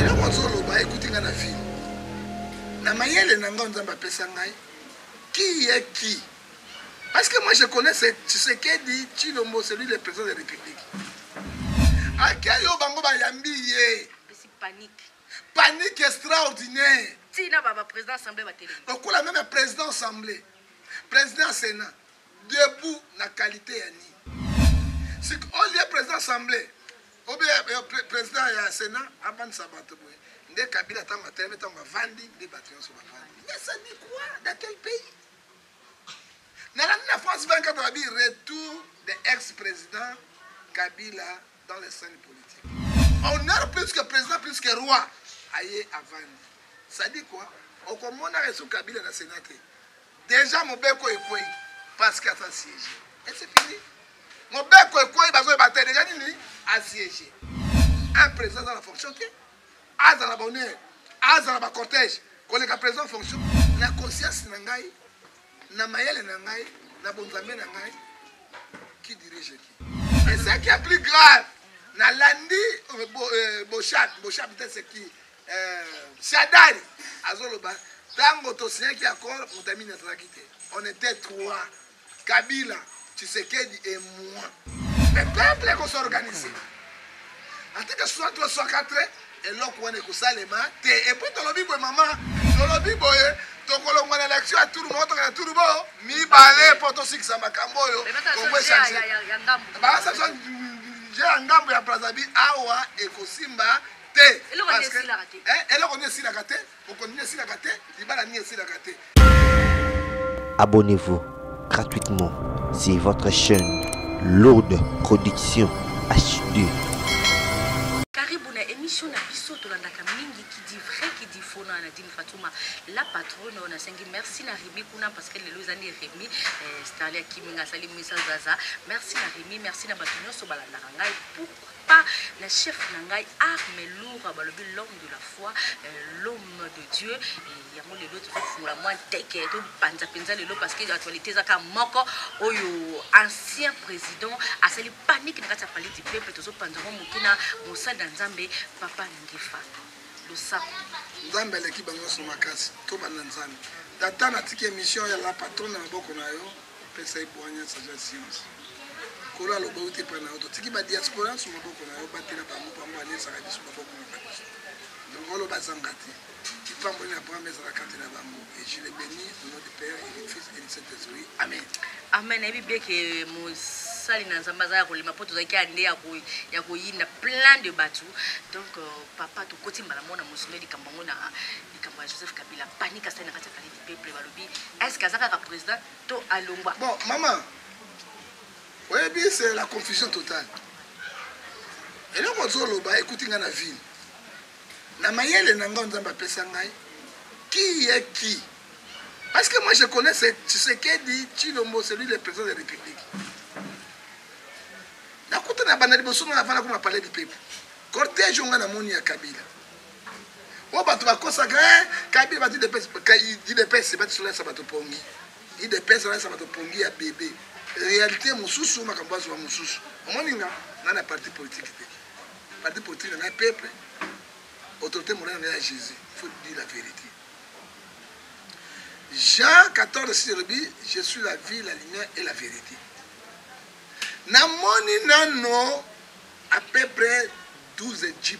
eloko azoloba ekuti ngai na vie na mayele na ngai nzambe apesa ngai qui est qui parce que moi je connais ce tshisekedi tshilombo celui le président de république ake yo bango bayambi ye panique panique extraordinaire tina baba président assemblée batelemi lokola meme président assemblée président ya sénat debout na qualité ya nini sik olie président assemblée Ou bien euh, euh, president ya Senat abandisa bato boye nde Kabila ntango atelemi ntango bavandi nde bato nyonso bavandi. Mais ça dit quoi dans quel pays? Nalandi na France 24 babi retour de ex-président Kabila dans les scènes politiques. Honneur plus que président plus que roi aye avandi. Ça dit quoi? Okomonaka esu Kabila na Senat te. Dejà mobeko ekweyi parce que aza siège et c'est fini mobeko ekweyi bazoyeba te dejà nini asiège un président aza na fonction te azala bonheur azala bacortège koleka président fonction na conscience na ngai na mayele na ngai na bonzambe na ngai qui dirige qui et ce qui est plus grave nalandi euh, euh, boshab boshab te c'est qui eh, shadari azoloba ntango tosinyaki accord mutamini azalaki te on était trois kabila tshisekedi et moi le peuple ekosorganise ateke 63 64 eloko wana ekosalema te epui tolobi boye mama tolobi boye tokolongwa na election ya turu moko tokana turu bo mibale mpo tosikisa makambo oyo kongo echange baasation je ya ngambo ya brazzaville awa ekosimba te eloko nini esilaka te eh, eloko nini esilaka te bokondi nini esilaka te libala nini esilaka te abonnez-vous gratuitement c'est votre chaîne lourde production hd karibu na émission na biso tolandaka mingi qui dit vrai qui dit faux na nadine fatuma la patronne oyo nasengi merci na remi kuna parce que lelo eza nde remi eh, starli akimi nga asali misa zaza merci na remi merci na bato nyonso balandaka ngai Papa na chef na ngai arme loura balobi l'homme de la foi euh, l'homme de Dieu et yango lelo tozofungola mwa nteke topanza mpenza lelo parce que actualité eza kaka moko oyo ancien président asali panique na kati ya palais du peuple tozopanza mwa moke na mosali na nzambe papa ngefa losako nzambe aleki bango nyonso makasi tobanda nzambe tata natiki émission ya la patron na maboko na yo Pesa ye bwanya saza science. Kolo aloba yo te pa na yo totiki ba diaspora su maboko na yo batela bango pambo anesaka biso maboko na biso. Donc olo bazanga te. Ipambo ni Abraham ezala kati na bango. Et je les bénis au nom du Père et du Fils et du Saint-Esprit. Amen. Amen. Nayebi bien que mosali na Nzambe azalaka kolema mpo tozalaki ande ya koyinda plein de bato. Donc euh, papa tokoti mbala moko na mosolo likambo yango na likambo ya joseph kabila panique asali na kati ya palais du peuple balobi est ce que aza kaka président to alongwa bon mama oyebi c'est la confusion totale eloko ozoloba ekuti ngai na vile na mayele na ngai nzambe apesa ngai qui est qui parce que moi je connais ce tshisekedi tshilombo celui le président de la république nakuta na banda liboso ngai avanda koma palais du peuple cortège onga na moni ya kabila Oyo bato bakosaka eh, kabila bato idps bato solalisa bato pongi idps alalisa bato pongi ya bebe réalité mosusu makambo azwa mosusu omoni nga nga na parti politique te parti politique na ngai peuple autorité monene ngai ya jésus faut dire la vérité jean 14 si elobi je suis la vie la lumière et la vérité namoni nano à peu près 12 jeep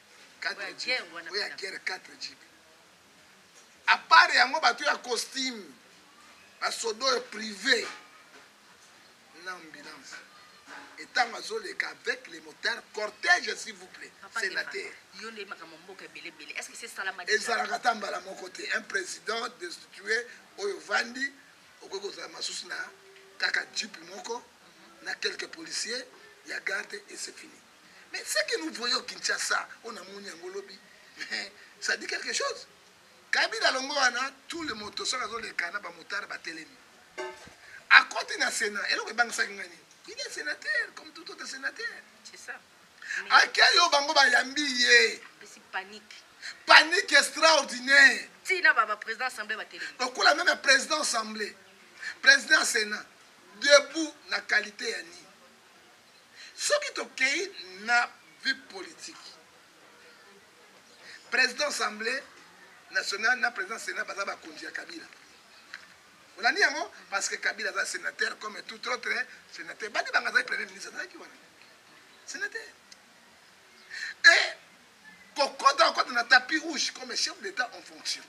4 jipe oyo ya guerre 4 jipe apart yango bato ya costume basoda oyo prive na ambulance etango azoleka avec les motards cortège s'il vous plaît sénateur ezalaka ata mbala moko te un président destitué oyo vandi okoki kozala masusu na kaka jipe moko mhm. na quelques policiers ya garde et c'est fini Mais ce que nous voyons Kinshasa, on a moni yango lobi, ça dit quelque chose. Kabila longo wana, tout le moto soka zo le kana ba motard ba telemi. À côté na Sénat, eloko ebangisa ngani. Il est sénateur comme tout autre sénateur. C'est ça. Akia yo bango ba yambi ye. C'est panique. Panique extraordinaire. Tina baba président assemblée ba telemi. Donc la même président assemblée, président Sénat, debout na qualité ya nini? Soki tokeyi na vie politique, president assemblee nationale na president senat baza bakonzi ya Kabila. Olandi yango? Parce que Kabila aza senateur comme tout autre senateur. Badi Banga azali premier ministre, azalaki wana senateur. Et kokota okota na tapis rouge comme chef d'etat en fonction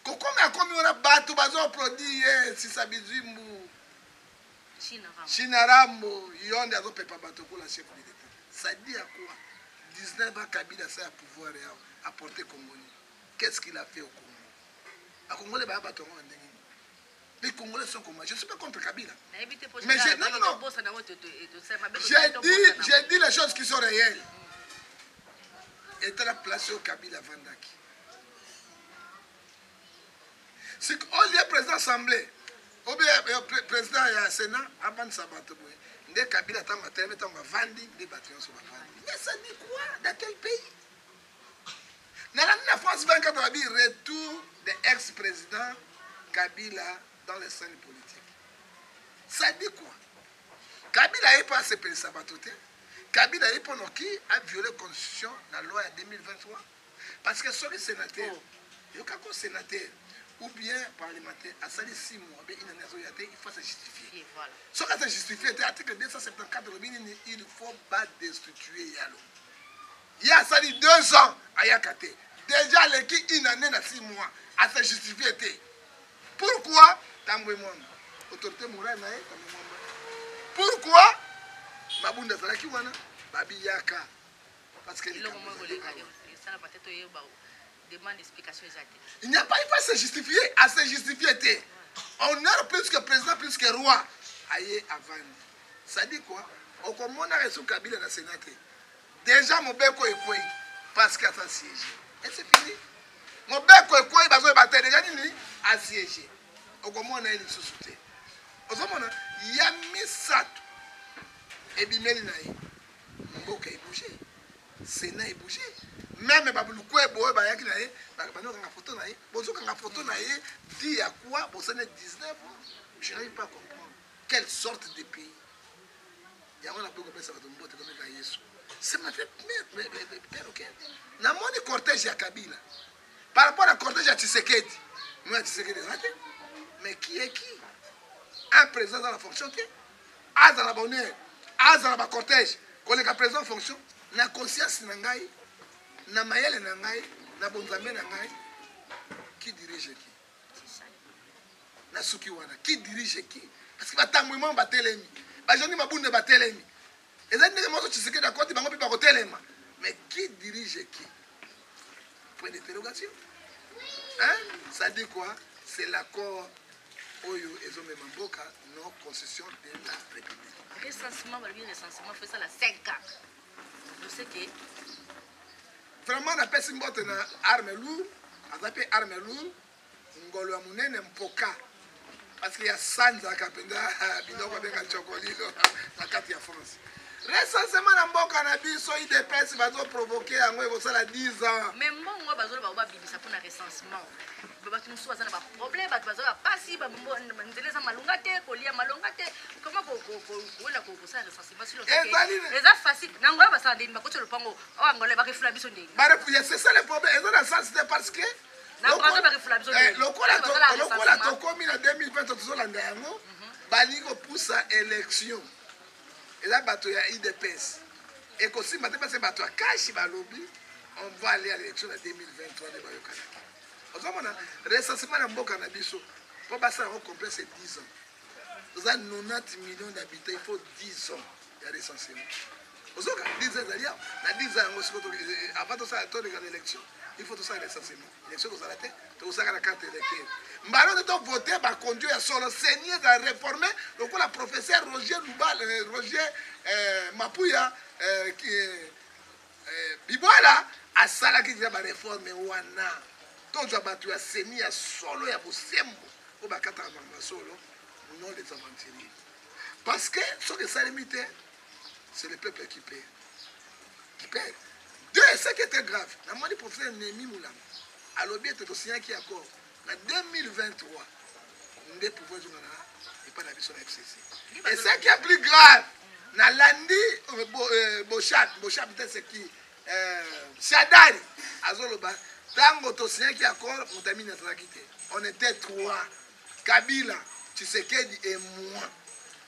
kokomi akomi wana bato bazoaplaudi ye sisa bizimbu China Rambo yonde azo pepa batu okola chef de l'etat ça dit à quoi 19 ans Kabila asa ya pouvoir ya a porter Congo nini qu'est ce qu'il a fait au Congo ba congolais ba batu yango na ndenge nini les congolais sont comme je suis pas contre Kabila mais j'ai non non non j'ai dit j'ai dit les choses qui sont réelles et la place au Kabila Vandaki sik olie président assemblée obe président ya sénat abandisa bato boye nde kabila ntango atelemi ntango bavandi nde bato nyonso bavandi mais ça dit quoi dans quel pays nalandi na france 24 babi retour de ex président kabila dans les scènes politiques ça dit quoi kabila aye mpo asepelisa bato te kabila aye mpo noki aviole constitution na loi ya 2023 Parce que soki senateur oh. yoka ko senateur ou bien parlementaire asali 6 mois be inani azoya te il faut se justifier voilà. soki aza justifie te article 274 lobi nini il faut ba destituer yalo ye asali 2 ans ayaka te déjà aleki une année na 6 mois ase justifie te pourquoi tambwe mwamba autorité morale na ye tambwe mwamba pourquoi mabunda azalaki wana babiyaka eloko moko koleka esala mate toyeba demande explication eza te il n'y a pas il faut se justifier à se justifier te honneur plus que président plus que roi aye avandi ça dit quoi okomonaka esu kabila na sénat te déjà mobeko ekwei parce que aza siège et c'est fini mobeko ekwei bazoyeba te deja nini asiège okomona ye lisusu te ozomona ya misato ebimeli na ye mboka ebouge sena ebouge meme babulukwebo oyo bayaki na ye banokanga foto na ye bozokanga foto na ye di ya kua bosana 19 je n'arrive pas comprendre quelle sorte de pays yango nakoki kopesa bato mbote komeka yesu ça m'a fait perroquet namoni cortège ya kabila par rapport à cortège ya tshisekedi moi ya tshisekedi eza te mais qui est qui un président dans la fonction te azala bonheur azala ba cortège koleka président fonction na conscience na ngai na mayele na ngai na bonzambe na ngai qui dirige qui na suki wana qui dirige qui parce que batambwi mwa batelemi bajani mabunde batelemi Ezali ndenge moko Tshisekedi akoti bango mpe bakotelema mais qui dirige qui? Point d'interrogation. Hein? Ça dit quoi? C'est l'accord oyo ezomema mboka non constitution de la république recensement balobi recensement fo esala 5 ans oseke vraiment napesi mbote na arme lour aza mpe arme lour ngolo ya munene mpoka parce que ya sanzaka mpenza biloko abenga ncokolilo na kati ya france recensement na mboka na biso idps bazoprovoke yango ekosala 10 ans mais mbongo oyo bazoloba ngo babimisa mpona recensement bato mosusu baza na baproblème bato baza bapasi nzela eza malonga te kolia malonga te koma kowela kosala recensement siloeza facile nango oyo basala ndeni bakotya lopango oyo angola barefula biso ndeni c'est ça le problème eza na sens te parce que lokola eh, tokomi na 2020 tozolanda yango mhm. balingi kopusa élection eza bato ya idps ekosimba te base bato ya kashi balobi on va aller à l'élection na 2023 nde bayokanaki ozomona recensement na mboka na biso mpo basala yango complexe 10 ans toza 90 millions d'habitants il faut 10 ans ya recensement ozoka 10 ezali ya na 10 yango siko avant tosala toleka na élection il faut tosala recensement élection kozala te tokosaka na carte électeur mbala nde tovote bakondio ya solo seni ezala réforme lokola professeur roger lubal euh, roger euh, mapuya euh, Eh, Bibwala asalaki deja ba reforme wana. Tozwa bato ya seni ya solo ya bosembo oyo bakataka makambo ya solo, non des aventuriers. Parce que soki esalemi te, c'est le peuple qui paie. Qui paie. Deux, ce qui était grave, namoni professeur Nemi Mulamba alobi ete tosignaki accord Na 2023 nde pouvoir ezonga na epai na biso na fcc et ce qui est plus grave nalandi euh, euh, boshab boshab te c'est qui euh, shadari azoloba ntango tosignaki accord motamini azalaki te on était trois kabila tshisekedi et moi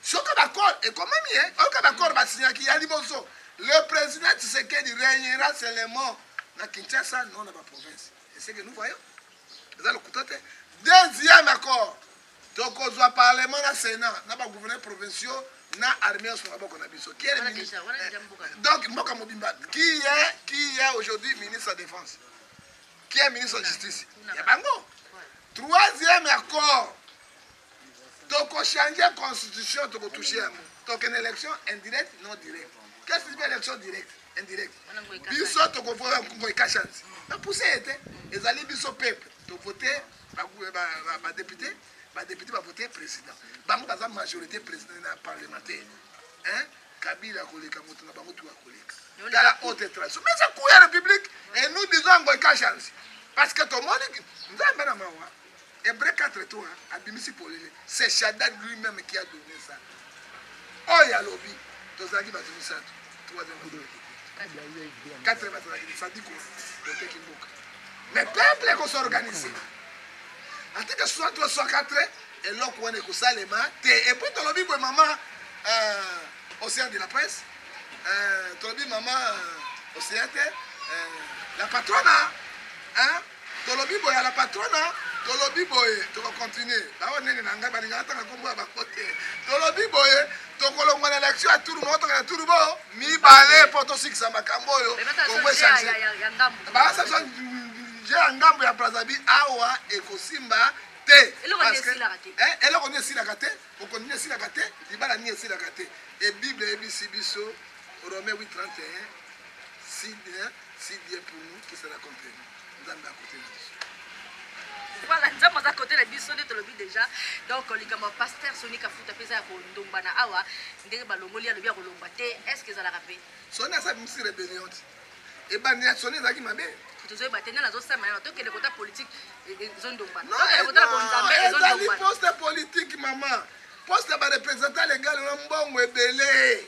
soki bakor ekomami ye oyoka bakor basignaki ya liboso le président tshisekedi régnera seulement na kinshasa non na baprovince C'est ce que nous voyons. Eza lokuta te. Deuxième accord. tokozwa parlement na sénat na bagouverneur provinciaux na armée nyonso maboko na biso donc mboka mobimba qui est qui est aujourd'hui ministre ya défense qui est ministre ya justice ya bango troisième accord tokochange constitution tokotouche yango tokende élection indirecte non direct qu'est ce que élection directe indirect biso tokovoya ngoy kashanzi bapuse ye te ezali biso peuple tovote badepute badepute bavote président bango baza majorité président na parlementaire kabila akoleka moto na bango tu akoleka tala haute tradition mais eza cour ya république et nous disons ngoy kashanzi parce que tomoni nzambe na mawa Hebreu 4 to abimisi polele c'est Shaddad lui-même qui a donné ça oyo alobi tozalaki bato misato troisième azalaki quatrième azalaki lisadiko toteki mboka mais peuple ekosorganise ateke soit to soit quatre eloko wana ekosalema te epuis tolobi boye mama euh, océan de la presse euh, tolobi mama euh, océan te la patrona hein? Tolobi boye à la patrona tolobi boye toko continuer baoyo nene na ngai balingaka tanga nkombo ya bango te tolobi boye tokolongwa na election ya turu moko toka na turu bo mibale mpo tosikisa makambo oyo kongo echange baasation je ya ngambo ya brazzaville awa ekosimba te eloko nini eh, esilaka te bokondi nini esilaka te libala nini esilaka te ebible eyebisi biso rome 831 side Si bien pour nous que cela comprenne. Nzambe a côté na biso. Voilà, nzambe aza côté na biso nde tolobi déjà. Donc likambo ya pasteur Sony Kafuta peza ya kondomba na awa ndenge balongoli alobi ya kolomba te. Est-ce que ezalaka pe? Sony asa bimisi rebellion ti. Ebandi ya Sony ezalaki mabe. tozoyeba te nani azosama yango tokende kota politike e, e, ezondombana tokende kota bonzambe ezondombana poste politique mama poste ya barepresentant legal na mbongo ebele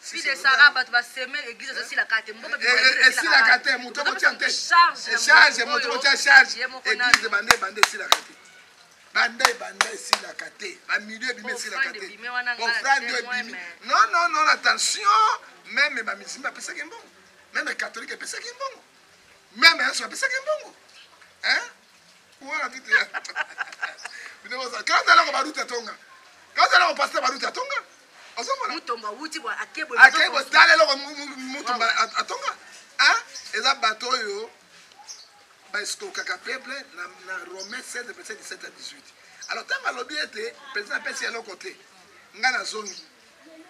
Fille de Sarah, bato ba seme église ezo sila kate. Mboka bi eh, eh, sila kate, moto ko tia te. Charge, charge, moto ko tia charge. Église bande bande sila kate. Bande bande sila kate. Ba milieu bi sila kate. Offrande bimi. Non non non, attention. Même ba musulmans pesa ke mbongo. Même catholique pesa ke mbongo. Même yesu apesa ke mbongo. Hein? Wana tout ya. Bino boza quand alors ba route tonga. Quand alors pasteur ba route tonga. Ozomona. Mutomba wuti bwa akebo. Akebo tala loko mutomba atonga. Hein? Eza bato oyo ba escokaka peuple na na Romain 16 verset 17 à 18. Alors tant alobi ete président pesi eloko te. Nga na zongi.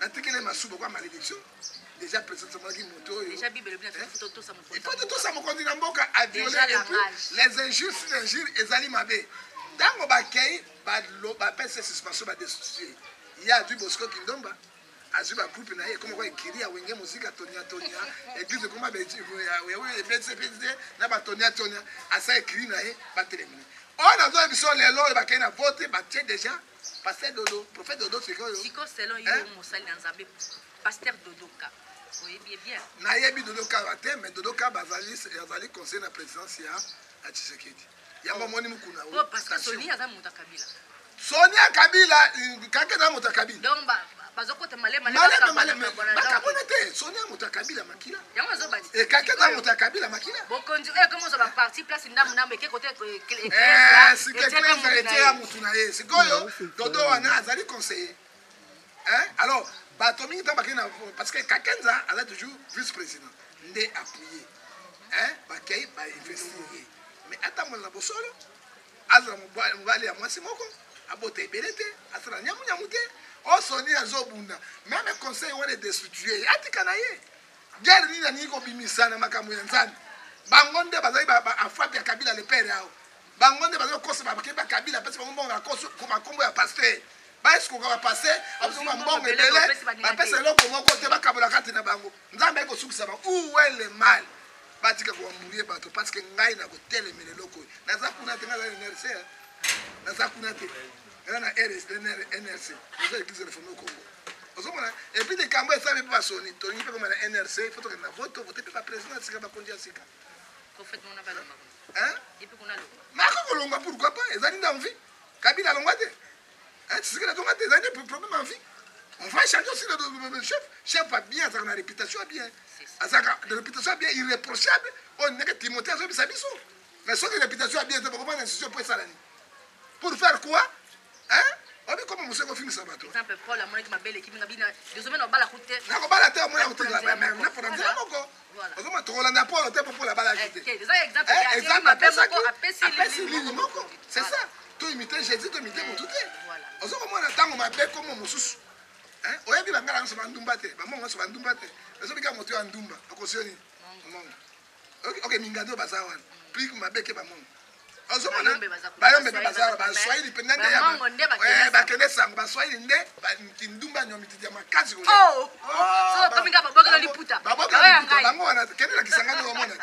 atikele masuba kwa malédiction déjà peut-être somonaki moto oyo déjà bible elobi na biso eh? totosa mokonzi ifo totosa mokonzi na mboka aviole epuis les injures sur injures ezali mabe ntango bakei bapesa suspension badestitue ye azwi bosco kindomba azwi bagroupe na ye ekoma kwa ekiri ya wenge mosika tonia tonia eglise ekoma ebetisi ebetisi te na batonia tonia asa ekiri na ye batelemina oyo nazoya biso lelo oyo bakei na vote batie déjà Pasteur Dodo, prophète Dodo sikoyo. Sikoyo selon yo eh? mosali na Nzambe Pasteur Dodo ka. Oyebi ye bien. Nayebi Dodo ka ba te mais Dodo ka bazali azali conseil na présidence ya ya Tshisekedi. Yango oh. moni mukuna. Oh parce que Sonia aza muta Kabila. Sonia Kabila kaka na muta Kabila. Donc ba bazokota malema malema malema bakabona te soni ya moto ya kabila makila yango ezobati ekaki eh, na moto ya kabila makila bokonzi oyo ekomi ozwa baparti place ndambu ndambu eke kote sikeklezalite ya motu na ye sikoyo dodo wana azali conseiller alors bato mingi ntango bakei na parce que kakenza aza toujours vice président nde appuye bakei bainvestir ye mais atambola na bosolo Azala mobali mobali ya mwasi moko abota ebele te asala nyamu nyamu te o oh, soni azobunda meme conseil wana edestitue ye atika na ye guerre nini alingi kobimisa na makambo ya nzambe bango nde bazali afrape ya kabila lepere yao bango nde bazali kokosa bakei bakabila apesi bango mbongo bakombo ya paster baesukoka bapase abosoma mbongo ebele bapesa eloko moko te bakabola kati na bango nzambe ayei kosukisa bango uwele male batika ko embrouiller bato parce que ngai na kotelemela eloko oyo naza kuna te ngai aza nrc naza kuna te eza na nrc eza église réforme au congo ozomona epuis likambo esali mpe basoni tolingi mpe koma na nrc fo tokende na vote tovote mpe baprésident ya sika bakonzi ya sika mako kolongwa pourquoi pas ezali na envie kabila alongwa te Eh, tshisekedi azonga te ezali nde problème ya vie on va changer aussi le chef chef ya bien azalaka na réputation ya bien azalaka na réputation ya bien irréprochable oyo oh, ndenge timothée azobisa biso mais soki réputation ya bien eza bakobana na institution mpo esala nini pour faire quoi hein obi koma moseko ofingisa bato nakobala te omona kotikala na nzela moko ozomona tokolanda polo te popola abalaki eh, te exemple apesaki apesi lili moko c'est ça to imite jésus to imite motu te ozo komona ntango mabe komo mosusu oyebi bangala nyonso bandumba te bamongo nyonso bandumba te ezobika moto ya ndumba okosio nini mongo oke mingandi oyo baza wana plik mabe ke bamongo ozomona bayombe mpe baza baswahili mpenza nde eh, bakende sango baswahili nde kindumba nywa mitidi ya makasi oh! Oh, bango wana kende na kisangani omona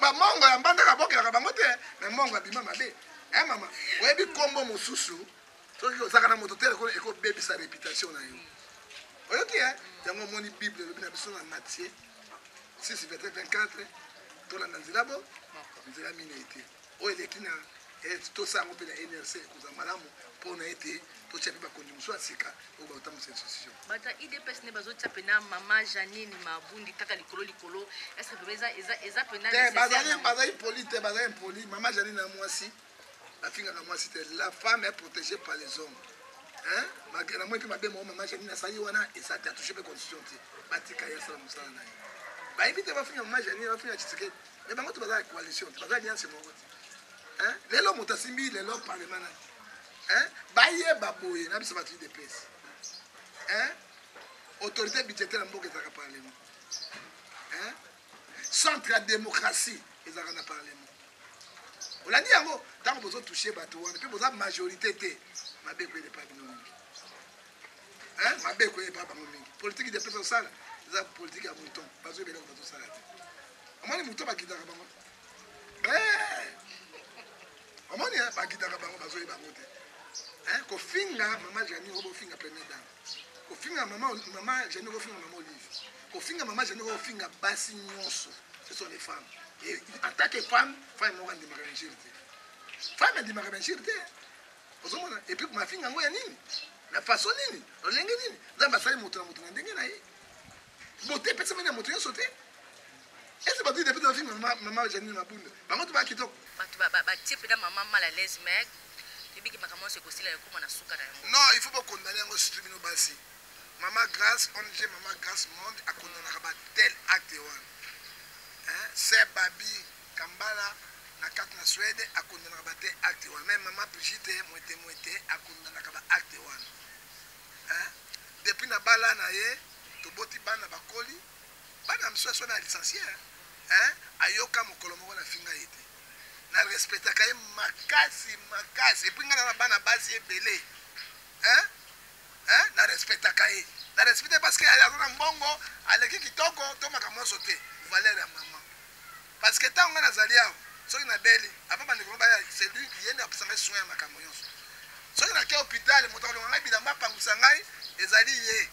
bamongo ya mbandaka bokelaka bango te me mongo abima mabe e mama oyebi nkombo mosusu soki ozaka na moto te lokola ekobebisa reputation na yo oyoki e yango omoni bible elobi na biso na matie 6 verset 24 tolanda nzela bo nzela minei te oyo eleki na eh, tosa yango mpe na nrc ekozala malamu mpo na ete totya mpe bakonzi mosusu ya sika oyo bakotambusa institution bato ya idps nde bazotya mpena mama janine mabundi kaka likolo likolo estce mpena eza mpena bazali poli te baza impoli mama janine na mwasi afingaka mwasi te la femme est protégée par les hommes hein malgré na moi mpe mabe moko mama janine asali wana eza te atouche mpe constitution te batika ye asala mosala na ye bayebi te bafinga mama janine bafinga tshisekedi mais bango te bazala coalition te bazala liance moko te hein lelo moto asimbi lelo parlement nani hein bayeba boye na biso bato idps hein autorité budgétaire ya mboka ezalaka parlement hein centre ya démocratie ezalaka na parlement olandi yango ntango bozotouche bato wana mpe boza majorité te mabe ekoyele epai bino mingi mabe ekoyele epai bango mingi politiki de pesa osala eza politiki ya mouton bazoyeba eloko bazosala te omoni mouton bakitaka bango eh! omoni eh, bakitaka bango bazoyeba bango te kofinga mama jani obofinga premier dame kofinga mama mama jani kofinga mama olive kofinga mama jani kofinga basi nyonso ce sont les femmes et en tant que femme femme moko andimaka benjire te femme andimaka benjire te ozomona epuis mafinga yango ya nini na façon nini lolenge nini nzambe asali moto na moto na ndenge na ye Bote epesami na moto nyonso te. Ese bato depuis na film mama mama Janine Mabunda. Bango to ba kitoko. Bato ba ba tie pena mama mal à l'aise mais ebiki makambo nyonso ekosila ekoma na suka na yango. Non, il faut ba condamner yango surtout bino basi. Mama Grace, ONG Mama Grace Monde a condamnaka ba tel acte wana. Hein? C'est Babi Kambala na carte na Suède a condamnaka ba tel acte wana. Même Mama Brigitte Mwete Mwete a condamnaka ba acte wana. hein depuis na bala na ye toboti bana bakoli bana misu aso na licencie hein ayoka mokolo moko na finga ye te na respectaka ye makasi makasi epuis ngai na bana basi ebele hein hein na respectaka ye na respecte parce que aza na mbongo aleki kitoko to makambo nyonso te valeur ya mama Parce que tango nga nazali awa soki nabeli avant bandeko ngo baya c'est lui ye nde akosa ngai soin ya makambo nyonso soki nake hôpital moto akolonga ngai bilamba apangusa ngai ezali ye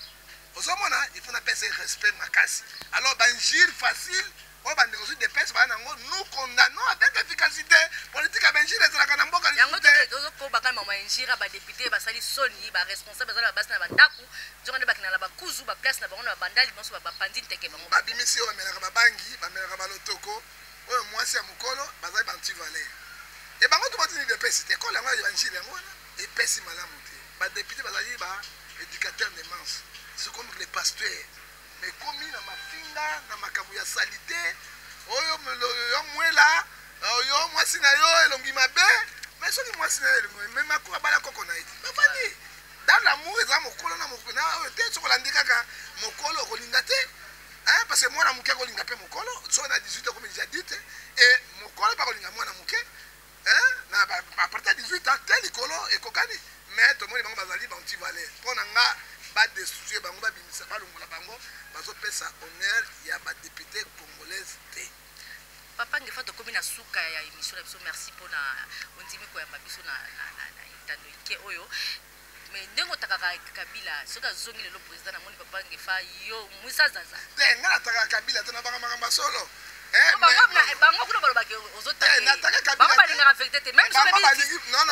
ozomona il faut napesa ye respect makasi alors bainjure facile oyo bandeko zwi depese baa nango nous condamnons avec efficacité politique ya bainjure ezalaka na mboka yango tozokoba kama mainjure ya badepute basali soni baresponsable bazali babasi na bandako nzoka nde bakenda na bakuzu ba place na bango na babandali banso bapanzi nteke bango babimisi oyo bamelaka babangi bamelaka balotoko oyo mwasi ya mokolo bazali bantivalere e bango to batini depesi te ekolo yango ya evanjile yango wana epesi malamu te badepute bazali ba éducateur de manse ce comme les pasteurs mais komi na mafinga na makambo ya salite oyo yo mwela oyo mwasi na yo elongi mabe mais soki mwasi na yo elongi mabe me makoko abala koko na ye bafandi Dans l'amour eza mokolo na mokolo na oyo te soki olandi kaka mokolo okolinga te hein parce que mwana moke akolinga pe mokolo soki na 18 okomi déjà adulte et mokolo pe akolinga mwana moke hein na à partir de 18 ans te likolo ekokani mais tomoni bango bazali ba anti valeur mpo na nga ba destituer bango babimisa balongola bango bazopesa honneur ya ba député congolaise te Papa Ngefa tokomi na suka ya emission na biso merci mpo na ondimi koyamba biso na etando ike oyo me ndenge otakaka kabila soki azongi lelo président namoni papa Ngefa yo mwisazaza te eh, ngai nataka kabila te nabaka makambo ya solo eh, bango kuna balobaki ozotabango eh, balingaka verité te meme soki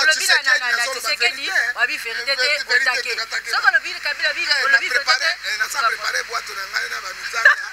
olobi na tisekedi wabi verité te otake soki olobi kabila olobi verité te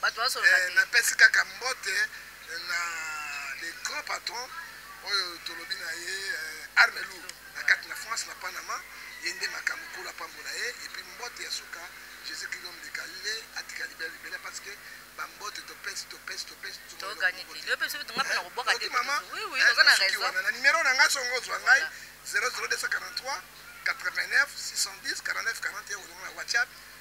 bato bazoloba eh, te napesi kaka mbote eh, na le grand patron oyo tolobi na ye eh, arme lour na kati na france na panama ye nde makambo kolo apambola ye epuis mbote ya suka jésus christ homme de galile atika libela libela parce que bambote topesi topesi topesi mama na nimero na ngai songo ozwa ngai 00243 89 610 49 41 ozonga na whatsapp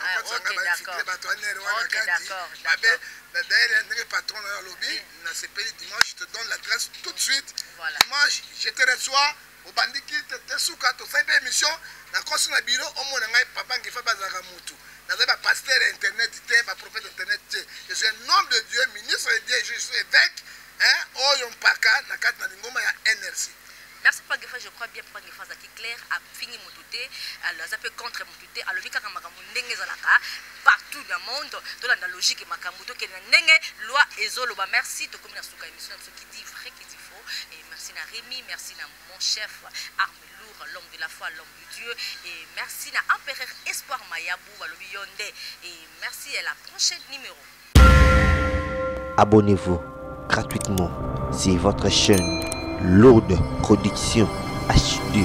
Ah, ok, d'accord. Ok, d'accord, d'accord. D'ailleurs, ndenge patron nayo alobi nasepeli dimanche je te donne l'adresse tout de suite Voilà. dimanche je te reçois obandi kite te suka tosali mpe émission nakosi na biro omona ngai papa ngefa bazalaka motu nazali bapaster ya internet te baprofete internet te je suis un homme de dieu ministre de dieu je suis évêque hein, oyo mpaka na kati na lingomba ya nrc merci papa ngefa je crois bien papa ngefa azalaki clair afingi motu te alors aza mpe contre motu te alobi kaka makambo ndenge ezalaka partout na monde tolanda logique ya makambo tokende na ndenge loi ezoloba merci tokomi na suka émission na biso kidi vrai kidi faux et merci na remi merci na mon chef arme lourd l'homme de la foi l'homme de dieu et merci na empereur espoir mayabu balobi yo nde et merci à la prochaine numéro abonnez-vous gratuitement c'est votre chaîne lourde production HD